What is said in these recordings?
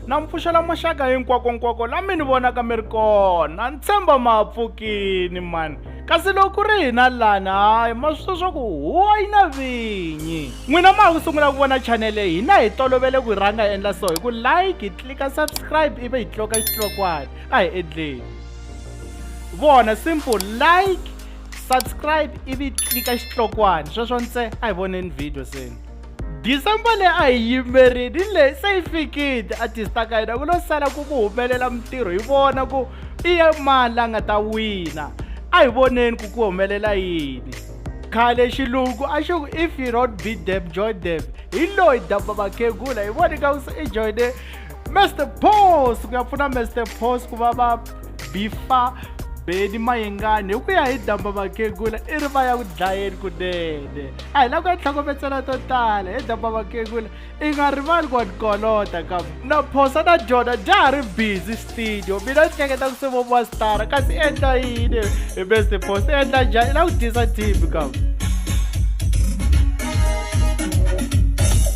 na mi pfuxela maxaka hinkwakonkwako la mi ni vonaka mi ri kona ni tshemba ma ha pfukini mani kasi loko ku ri hina lani hayi ma swi swa ku huwa yi na vinyi n'wina ma ha ku sungula ku vona chanele hina hi tolovele ku rhanga endla so hi ku like hi tlika subscribe ivi hi tloka xitlokwana a hi endleni vona simple like subscribe ivi tlika xitlokwana sweswo ntse a hi voneni video seni December leyi a hi yimerini leyi se yi fikile artist a ka hina ku lo sala ku ku humelela mintirho hi vona ku i ye mani la nga ta wina a hi voneni ku ku humelela yini khale xilungu a xi ku if you don't beat them join them hi loyi damba vakhegula hi voni ka ku se i joyine mester pos ku ya pfuna mester pos ku va va bifa beni mayengani hi ku ya hi damba vakhegula i ri va ya ku dlayeni kunene a hi la ku ya tlhokometsela to tala hi damba vakhegula i nga rivali ku wa tikolota kambe na phosa na dyona ja ha ri busy studio mina ni hleketa ku se vo mastara ka ti endla yini hi beste phosa i endla njhani i la ku dyisa tv kambe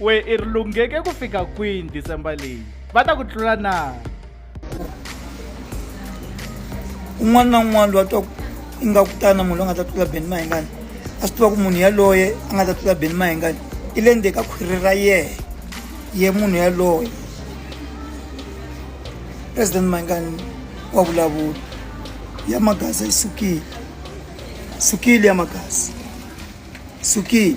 We i ri lungheke ku fika kwini December leyi? Va ta ku tlula na? Un'wana na un'wana loyi a twa ingaku tana munhu loyi a nga ta tlula Benny Mayengani a swi tiva ku munhu yaloye a nga ta tlula Benny Mayengani i le ndzeni ka khwiri ra yehe ye munhu yaloye president Mayengani wa vulavula ya magasi yi sukile sukile ya magasi sukile